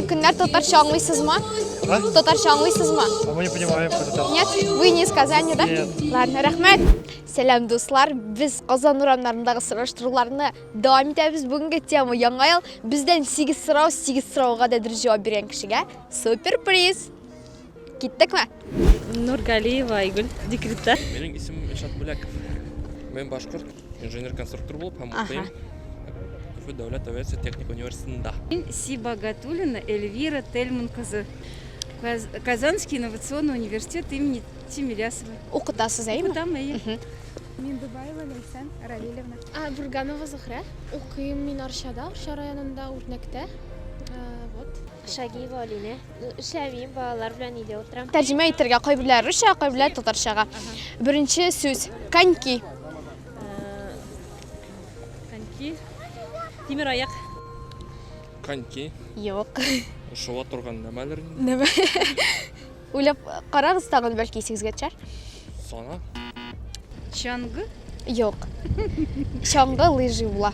Көннәр татарча аңлыйсызмы? А? Татарча аңлыйсызмы? А мы не понимаем, что это. Нет, вы не из Казани, да? Нет. Ладно, рахмет. Сәлам дуслар, без Казан урамнарындагы сораштыруларны дәвам итәбез. Бүгенге тема яңа ел. Бездән 8 сорау, 8 сорауга да дөрес җавап биргән кешегә супер приз. Киттек ме? Нургалиева Айгүл, декретта. Минем исем Ишат Бүләков. Мин башкорт инженер-конструктор булып һәм укыйм. Уфы дәүләт авиация техник университетында. Мин Сибагатулина Эльвира Тельман кызы. Казанский инновационный университет имени Тимирясова. Укытасыз, әйме? Укытам, әйе. Мин Дубаева Ләйсән Равилевна. А, Бурганова Зухра. Укыйм мин Арчада, Арча районында, Үрнәктә. Вот. Шагиева Алинә. Эшләмим, балалар белән өйдә утырам. Тәрҗемә итәргә кайберләр русча, кайберләр татарчага. Беренче сүз коньки. Коньки. Тимер аяк. Коньки. Юк. Шула торган нәмәләр. Нәмә. Уйлап карагыз тагын бәлки исегезгә төшәр. Сана. Чаңгы? Юк. Чаңгы лыжи була.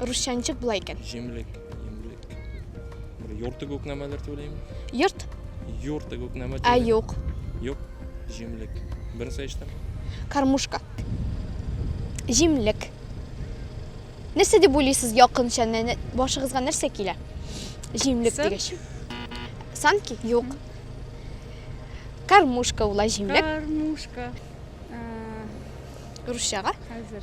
Русча ничек була икән? Җимлек, җимлек. Бер йорты күк нәмәләр түләйме? Йорт? Йорты күк нәмә Ә түләйме? юк. Юк. Җимлек. Беренче эштән. Кармушка. Җимлек. Нәрсә дип уйлыйсыз якынча? Нә- нә- Башыгызга нәрсә килә? Җимлек Санки. дигәч. Санки? Юк. Кармушка була җимлек. Кармушка. Русчага. Хәзер.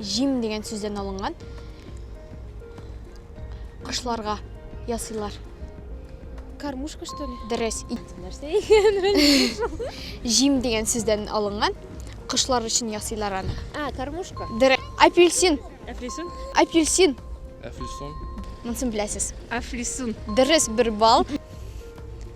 Җим дигән сүздән алынган. Кошларга ясыйлар. Кормушка, что ли? Дөрес, ит. Нәрсә икән? Җим дигән сүздән алынган. Кошлар өчен ясыйлар аны. А, кормушка. Дөрес. Апельсин. Әфлисун. Апельсин. Әфлисун. Монысын беләсез. Афлисун. Дөрес, бер балл.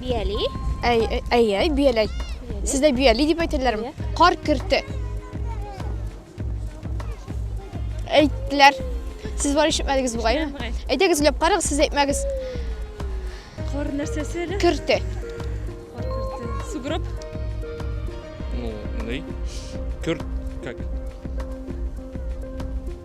Бияли. Әй, әй, әй, бияләй. Сездә бияли дип әйтәләрме? Кар керте. Әйттеләр. Сез бар ишетмәдегез бугай. Әйтегез, леп карагыз, сез әйтмәгез. Кар нәрсәсе әле? Керте. Кар керте. Сугроб. Ну, ней. Керт как?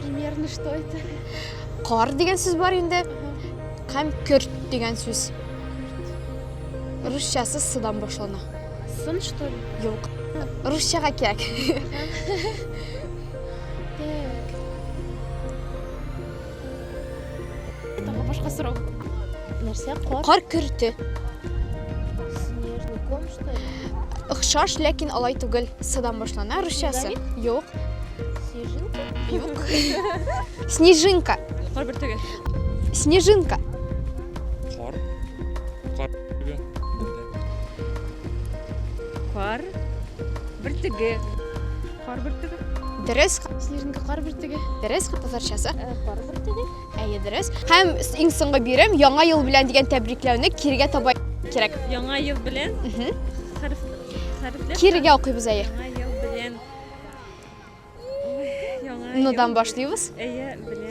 Примерно что это? Кар дигән сүз бар инде. Һәм көрт дигән сүз. Русчасы сыдан башлана. Сын что ли? Юк. Русчага кирәк. Тагы башка сорау. Нәрсә кар? Кар көрте. Снежный ком, что ли? Охшаш, ләкин алай түгел. Садан башлана русчасы. Юк. Снежинка? Юк. Снежинка. Кар бер түгел. Снежинка. Кар. Кар. Кар. Бер түгел. Кар бөртеге. Дөрес. Снежинка кар бөртеге. Дөрес, татарчасы. Э, кар бөртеге. Әйе, дөрес. Һәм иң соңгы бирем Яңа ел белән дигән тәбрикләүне кирегә таба кирәк. Яңа ел белән. Хәреф. Хәрефләр. Кирегә укыйбыз әйе. Яңа ел белән. Яңа. Нодан башлыйбыз. Әйе, белән.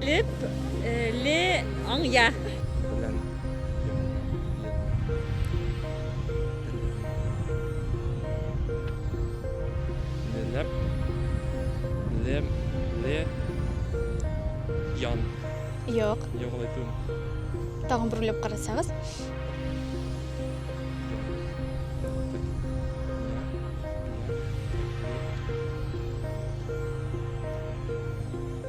Леп, ле, аңя. Юк. Юк, алай түгел. Тагын бер уйлап карасагыз.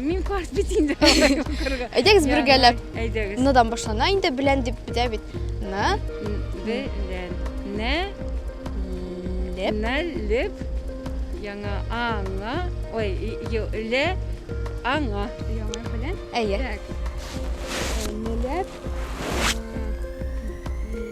Мин карт бит инде алай укырга. Әйдәгез бергәләп. Әйдәгез. Ныдан башлана инде белән дип бетә бит. На. Белән. Нә. Леп. Нә леп. Яңа аңа. Ой, ле аңа. Яңа белән. Әйе. Так. Нәләп.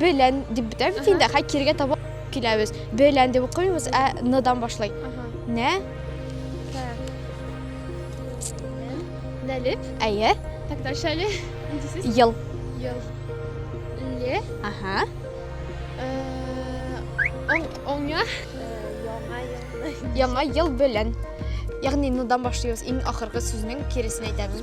Белән дип бетә бит инде, хәй кирегә таба киләбез. Белән дип укымыйбыз, ә ныдан башлый. Нә? Нәлеп? Әйе. Так, дальше әле. Ел. Ел. Ле? Ага. Оңя? Яңа ел. Яңа ел белән. Ягъни ныдан башлыйбыз. Иң ахыргы сүзнең киресен әйтәбез.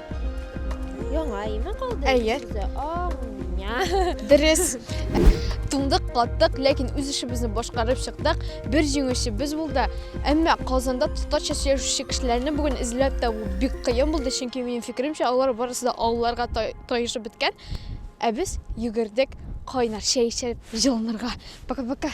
Яңа име калды? Әйе. Дөрес. Туңдык, каттык, ләкин үз эшебезне башкарып чыктык. Бер җиңүче без булды. Әмма Казанда татарча сөйләшүче кешеләрне бүген эзләп табу бик кыен булды, чөнки минем фикеремчә, алар барысы да авылларга таешып беткән. Ә без йөгердек кайнар чәй эчеп җылынырга. Пока-пока.